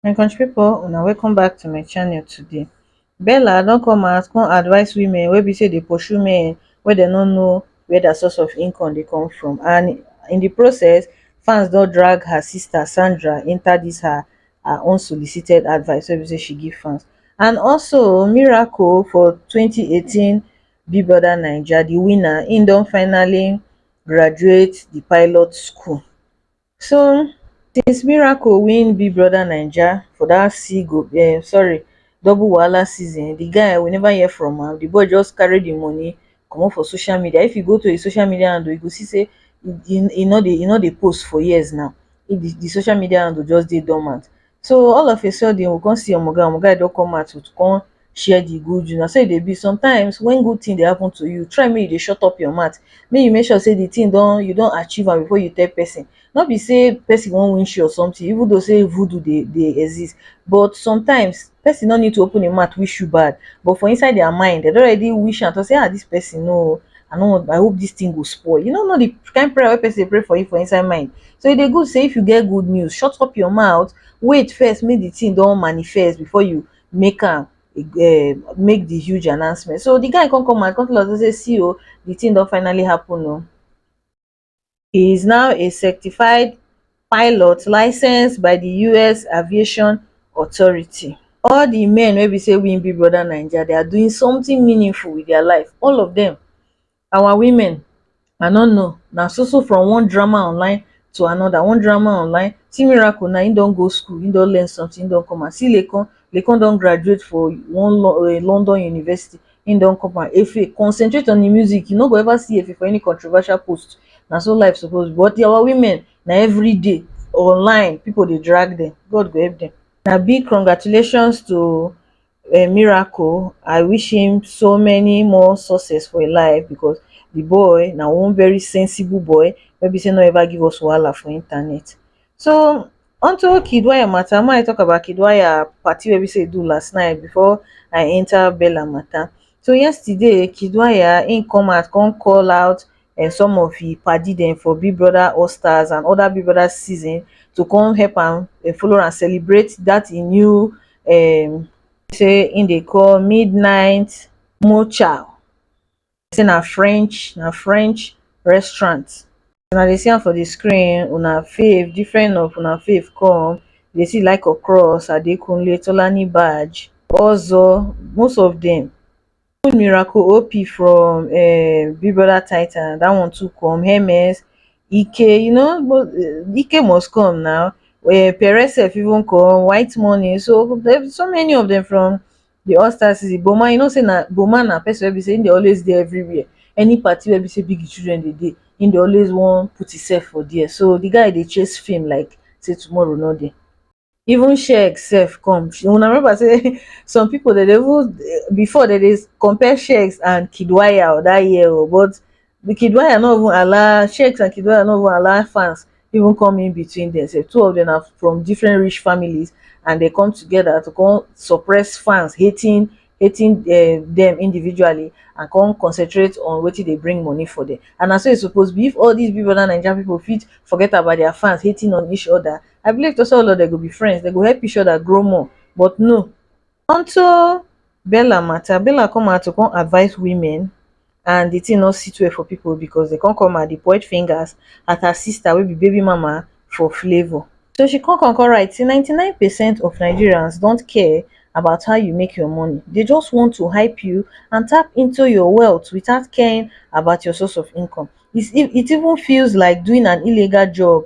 my country pipo una welcome back to my channel today bella don come out come advise women wey be say dey pursue men wey dem no know where their source of income dey come from and in the process fans don drag her sister sandra enter this her her unsolicited advice wey be say she give fans and also miracle for twenty eighteen big brother naija di winner im don finally graduate di pilot school so since miracle win big brother naija for dat seago sorry double wahala season di guy we never hear from am di boy just carry di money comot for social media if you go to his social media handle you go see say e no dey e no dey post for years now di social media handle just dey dormant so all of a sudden we come see omo guy omo guy don come out to come share di good news na so e dey be sometimes wen good tin dey happen to you try make you dey shut up your mouth make you make sure say di tin don you don achieve am before you tell pesin no be sey person wan wish you or something even though sey voodoo dey dey exist but sometimes person no need to open im mouth wish you bad but for inside their mind dem don already wish am talk sey ah this person oo I no wan I hope this thing go spoil you no know the kind prayer wey person dey pray for you for inside mind so e dey good sey if you get good news shut up your mouth wait first make the thing don manifest before you make am um make the huge announcement so the guy come come out come tell us sey see oo the thing don finally happen oo He is now a certified pilot licensed by di us aviation authority. All di men wey be say win Big Brother Naija, they are doing something meaningful with their life, all of them. Our women, I no know, na so so from one drama online to another, one drama online, see Miracle now, he don go school, he don learn something, he don come out, see Laycon, Laycon don graduate for one London university, Him don cop am. Efe, concentrate on the music, you no go ever see Efe for any controversial post, na so life suppose be, but our women na everyday online people dey drag them, God go help them. Na big congratulations to um Miracle, I wish him so many more success for him life because the boy na one very sensible boy wey be say no ever give us wahala for internet. So unto Kiddwaya matter, make I talk about Kiddwaya party wey be say e do last night before I enter Bella matter. So yesterday Kiddwaya im come out come call out um some of im paddy dem for Big Brother All Stars and other Big Brother season to come help am um follow am celebrate that im new um say im dey call midnight mocha. say na french na french restaurant una dey see am for the screen una fave different of una fave come you dey see the like of cross adekunle tolani baj ozo most of them even miracle op from um big brother titan that one too come hermes ike you know but ike must come na um perez sef even come white money so so many of them from the all stars season boma you know say na boma na person wey be say him dey always dey everywhere any party wey be say big children dey dey him dey always wan put himself for there so the guy dey chase fame like say tomorrow no dey even sheik sef come una remember say some people dey dey even before dey dey compare sheik and kid wire that year o but the kid wire no even allow shakes and kid wire no even allow fans even come in between them say two of them are from different rich families and they come together to come suppress fans hating hating uh, them individually and come concentrate on what they bring money for them and that's so it's supposed to be if all these people and Nigerian people fit forget about their fans hating on each other I believe to say all of them go be friends they go help each other grow more but no Unto Bella matter, Bella come out to come advise women and the thing no sit well for people because they come come out dey point fingers at her sister wey be baby mama for Flavour. So she come come come write say ninety nine percent of Nigerians don't care about how you make your money, they just want to hype you and tap into your wealth without caring about your source of income, it even feels like doing an illegal job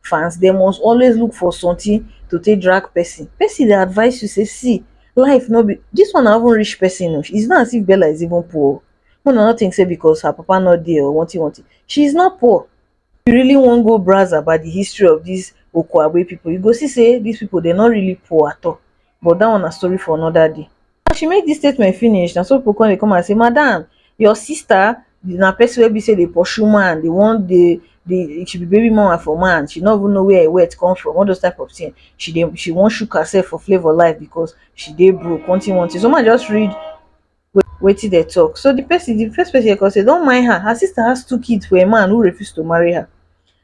fans dem must always look for sometin to take drag pesin pesin dey advice you say see life no be dis one na even rich pesin o is not as if Bella is even poor make una no think say because her papa no dey or wanti wanti she is not poor if you really wan go browse about di history of dis Okoagbe pipo you go see say dis pipo dem no really poor at all but dat one na story for anoda day. as she make dis statement finish na so pipo come dey come and say madam your sister na pesin wey be say dey pursue man dey wan dey dey she be baby mama for man she no even know wia e wet come from all those type of tin she dey she wan shook hersef for flavour life because she dey broke one tin one tin so make I just read wetin dem tok so di pesin di first pesin here come say don mind her her sister has two kids for a man who refuse to marry her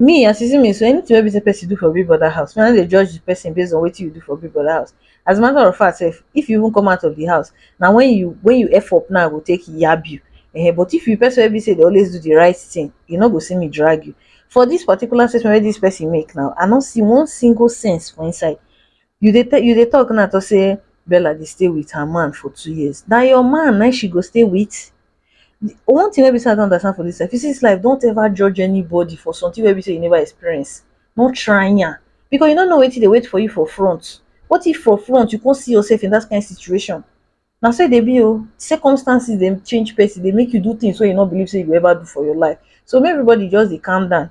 Me as e see me so, anything wey be say person do for big brother house, me I no dey judge the person based on wetin you do for big brother house. As a matter of fact sef, if you even come out of the house, na when you when you F up na I go take yab you. Ehen, but if you be person wey be say you dey always do the right thing, you no go see me drag you. For this particular statement wey this person make now, I no see one single sense for inside. You dey tell you dey talk now talk say Bella dey stay with her man for two years. Na your man na im she go stay with? One thing wey be sey I don understand for dis life, you see dis life don't ever judge anybody for something wey be sey you never experience, no try am, because you no know wetin dey wait for you for front, what if for front you come see yourself in dat kind situation, na so e dey be oh, circumstances dey change person, dey make you do things wey you no believe sey you go ever do for your life, so make everybody just dey calm down,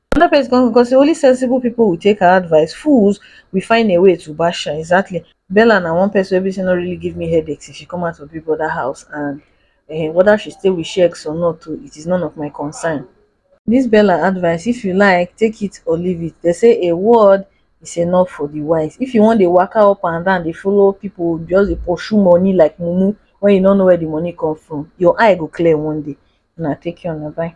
Another place come go come say only sensible people will take her advice, fools will find a way to bash her. Exactly. Bella na one person wey be say no really give me headaches if she come out of Big Brother house and eh, whether she stay with Shex or not too, it is none of my concern. This Bella advice, if you like, take it or leave it. They say a word is enough for the wise. If you wan dey waka up and down, dey follow people, just dey pursue money like mumu when you no know where the money come from, your eye go clear one day. Una take care, una bye.